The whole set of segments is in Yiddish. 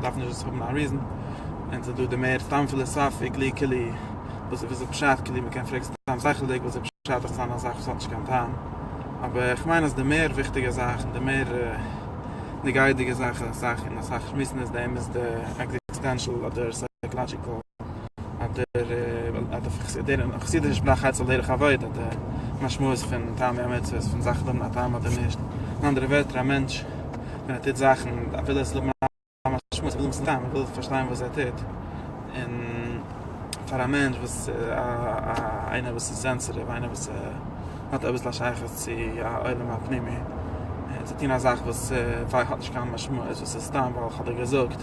דארף נישט דאס האבן א ריזען, און ס'איז דא די מער סתם פיליסאפי כלי כלי, וואס איז וויאזוי פשט כלי מ'קען פרעגן סתם שכל'דיג וואס איז פשט אויף סתם א זאך וואס האט נישט קיין טעם, אבער איך מיין אז די מער וויכטיגע זאך און די מער נוגעה'דיגע זאך און אסאך שמועסן איז דעם איז די עקזיסטענשאל אדער סייקאלאדזשיקאל. חסידישע שפראך הייסט על דרך הווייט אט די משמעות פון טעם והמצוות פון זאכן האבן א טעם אדער נישט אין אנדערע ווערטער א מענטש ווען ער טוט זאכן וויל ער ס'זאל האבן א משמעות ער וויל עס טעם ער וויל פארשטיין וואס ער טוט און פאר א מענטש וואס איינער וואס איז סענסעטיוו איינער וואס האט אביסל א שייכות צו א עולם הפנימי צו טון א זאך וואס האט נישט קיין משמעות וואס איז סתם ווייל כ'האב דיר געזאגט.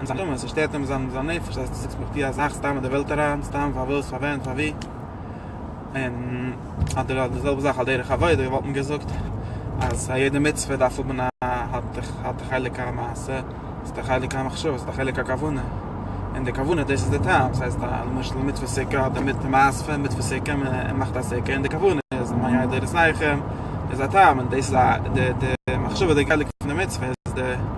אין זיין נשמה, ס'שטערט אים אין זיין נפש אז דו זאגסט מיך די א זאך סתם אין די וועלט אריין, סתם פאר וואס, פאר ווען, פאר ווי. און אדער די זעלבע זאך על דרך עבודה, איך וואלט אים געזאגט אז א יעדע מצוה דארף האבן א האט א חלק א מעשה, האט א חלק א מחשבה, האט א חלק א כוונה, און די כוונה דאס איז די טעם, ס'הייסט א למשל מצוה סוכה האט דערמיט די מעשה פון מצוה סוכה, מען מאכט א סוכה, און די כוונה איז מיה דער עושה איכה, איז א טעם, און דאס איז די מחשבה די חלק פון די מצוה איז די.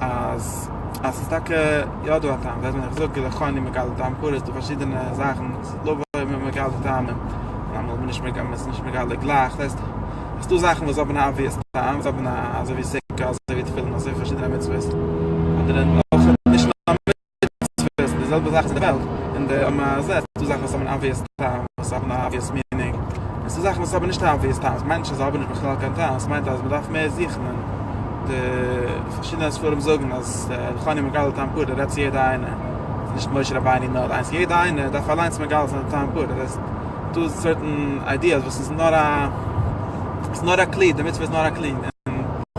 אז אז ס'איז טאקע יא דא א טעם ווען מען זאגט געלע חוני מגלה טעם קאר איז דא פארשידענע זאכן לא באים עם מגלה טעמים אמאל איז מען נישט מגלה מ'איז נישט מגלה גלייך ס'הייסט אז ס'דא זאכן וואס האבן א אבוויעס טעם וואס האבן א אזוי ווי סוכה אזוי ווי תפילין אזוי ווי פארשידענע מצוות אדער נישט נאר מצוות איז די זעלבע זאך צו די וועלט, און די האבן א זה, ס'דא זאכן וואס האבן אן אבוויעס טעם, וואס האבן א אבוויעס מינינג, און ס'דא זאכן וואס האבן נישט א אבוויעס טעם, ס'מיינט נישט אז זיי האבן נישט בכלל קיין טעם, ס'מיינט אז מ'דארף מער זוכן, און די פארשידענע ספרים זאגן אז איך האב נישט מגלה טעם פארט די רעדסט צו יעדע איינע, ס'איז נישט משה רבינו נאר איינס, יעדע איינע דארף אליינס מגלה זיין טעם פארט, דאס הייסט ס'דא סערטען איידיעס וואס איז נאר א, ס'איז נאר א כלי, די מצוה איז נאר א כלי, און.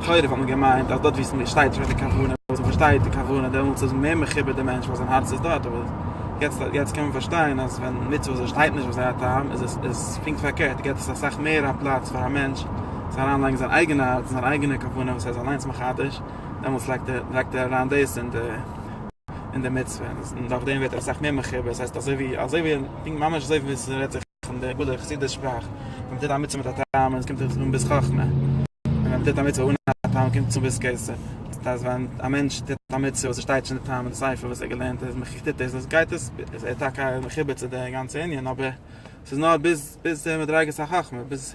תורה וואלט מען געמיינט אז דארט ווי ס'שטייט שוין די כוונה וואס מען פארשטייט די כוונה דעמאלטס איז מער מחובר די מענטש ווייל זיין הארץ איז דארט אבער יעצט יעצט קען מען פארשטיין אז ווען מצוות וואס שטייט נישט וואס זיי א טעם איז עס איז פונקט פארקערט גיבט עס אסאך מער א פלאץ פאר א מענטש צו אריין לייגן זיין אייגענע הארץ און זיין אייגענע כוונה וואס ער איז אליינס מחדש דעמאלטס לייגט ער לייגט ער אריין דאס אין די אין די מצוה און דורך דעם ווערט ער אסאך מער מחובר ס'הייסט אזוי ווי אזוי ווי פונקט ממש אזוי ווי ס'רעדט זיך פון די גדולי חסידי שפראך, ווען מ'טוט א מצוה מיט א טעם און עס קומט אויס אן ביס חכמה, און ווען מ'טוט א מצוה אן א טעם קומט עס אן ביס כעסה, דאס הייסט ווען א מענטש טוט א מצוה וואס עס שטייט נישט אין די טעם אין די ספר וואס ער געלערנט איז מח איך טוט עס דאס גייט עס איז ער טאקע מחובר צו די גאנצע ענין אבער עס איז נאר ביז ביז מדריגת החכמה ביז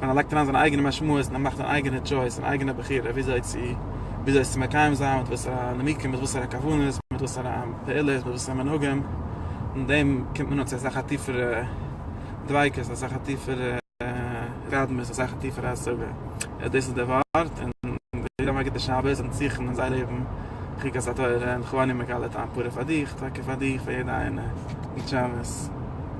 און ער לייגט אריין זיינע אייגענע משמעות און ער מאכט אן אייגענע טשויס און אייגענע בחירה וויאזוי צו וויאזוי עס צו מקיים זיין מיט וואסערע נימוקים מיט וואסערע כוונות מיט וואסערע פעולות מיט וואסערע מנהגים און דעם קומט מען אן צו אסאך א טיפערע דביקות אסאך א טיפערע התקדמות אסאך א טיפערע השגה אז דאס איז דער ווארט און ווער האט א גוטע שבת און זוכן אין זיין לעבן חוקת התורה און כוואנען מגלה טעם פורה פאר דיך טאקע פאר דיך פאר יעדע איינע גוט שבת.